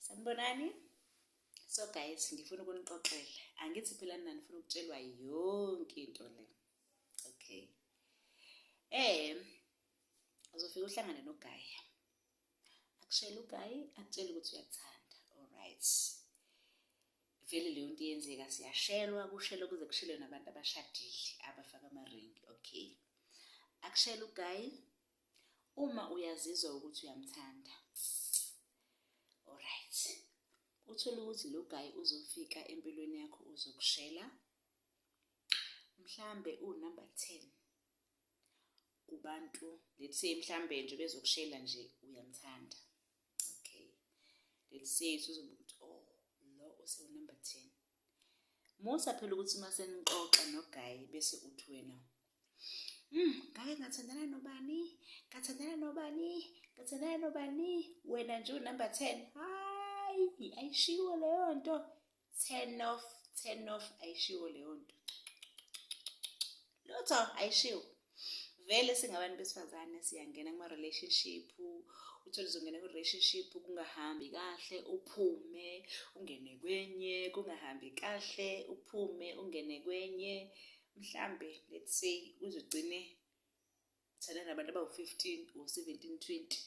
sanibonani so guys ngifuna ukunixoxela angithi phela nina nifuna ukutshelwa yonke into le okay eh uzofika uhlangane nogayi akushela ugayi akutshela ukuthi uyakuthanda alright vele leyo nto iyenzeka siyashelwa kushelwa kuze kushelwe nabantu abashadile abafaka amaringi okay akushela ugayi Uma uyazizwa ukuthi uyamthanda. Alright. Uthole ukuthi lo guy uzofika empilweni yakho uzokushela. Mhlambe u number 10 kubantu let's say mhlambe nje bezokushela nje uyamthanda. Okay. Let's say uzobuthi oh lo use number 10. Musa phela ukuthi uma senixoxa nogayi bese uthi wena Mm, ngake ngathandana nobani? Ngathandana nobani? Ngathandana nobani? Wena nje unumber 10. Hayi, ayishiwo leyo nto. Turn off, turn off ayishiwo leyo nto. Lutho ayishiwo. vele singabantu besifazane siyangena kuma relationship uthole uzongena ku relationship kungahambi kahle uphume ungene kwenye kungahambi kahle uphume ungene kwenye mhlambe let's say uzogcine thana nabantu abawu-15 or 17 20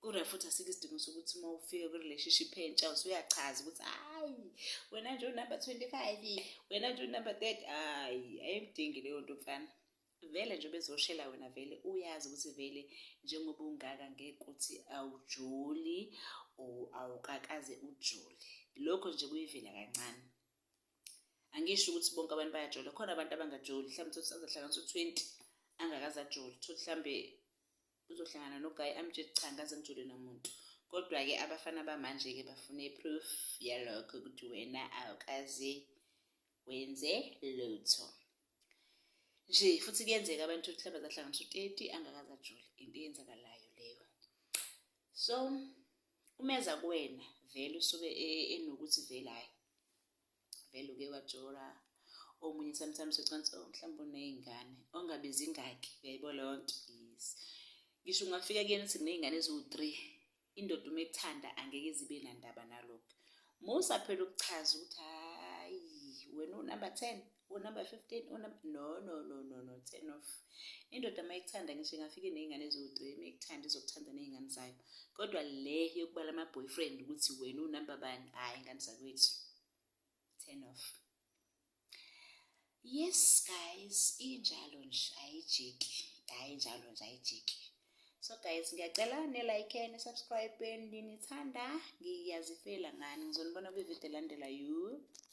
Kure futhi asikho isidingo sokuthi uma ufika kwi-relationship entsha usuyachaza ukuthi hayi wena nje unumber twenty five wena nje unumber thirty hayi ayimdingi leyo nto mfana vele nje bezoshela wena vele uyazi ukuthi vele njengoba ungaka ngeke ukuthi awujoli or awukakaze ujoli lokho nje kuyivela kancane angisho ukuthi bonke abantu bayajola khona abantu abangajoli mhlawumbe utholuthi azahlanganisa u-twenty angakaze ajoli utholuthi mhlawumbe uzohlangana no guy amtshele cha ngaze ngijule nomuntu kodwa ke abafana bamanje ke bafuna iproof yalokho ukuthi wena awukaze wenze lutho nje futhi kuyenzeka abantu ukuthi hlaba zahlanganisa u-30 angakaze ajule into eyenzakalayo leyo so umeza kuwena vele usuke e, enokuthi vele hayi vele uke wajora omunye sometimes ucansi oh mhlawumbe uney'ngane ongabizi ingaki uyayibo leyo nto yes ngisho ungafika kuyena uthi kuney'ngane eziwu-three indoda uma ekuthanda angeke izibe nandaba nalokho musa phela ukuchaza ukuthi hhayi wena unumber ten unumber 15 unumber no no no no no turn off indoda uma ikuthanda ngisho ingafike nezingane eziwu-3 uma ikuthanda izokuthanda nezingane zayo kodwa le yokubala ama-boyfriend ukuthi wena unumber bani hhayi ingane zakwethu turn off yes guys injalo nje ayijiki hhayi njalo nje ayijiki so guys ngiyacela ne-like ne-subscribe nginithanda ngiyazifela ngani ngizonibona kwividiyo elandela you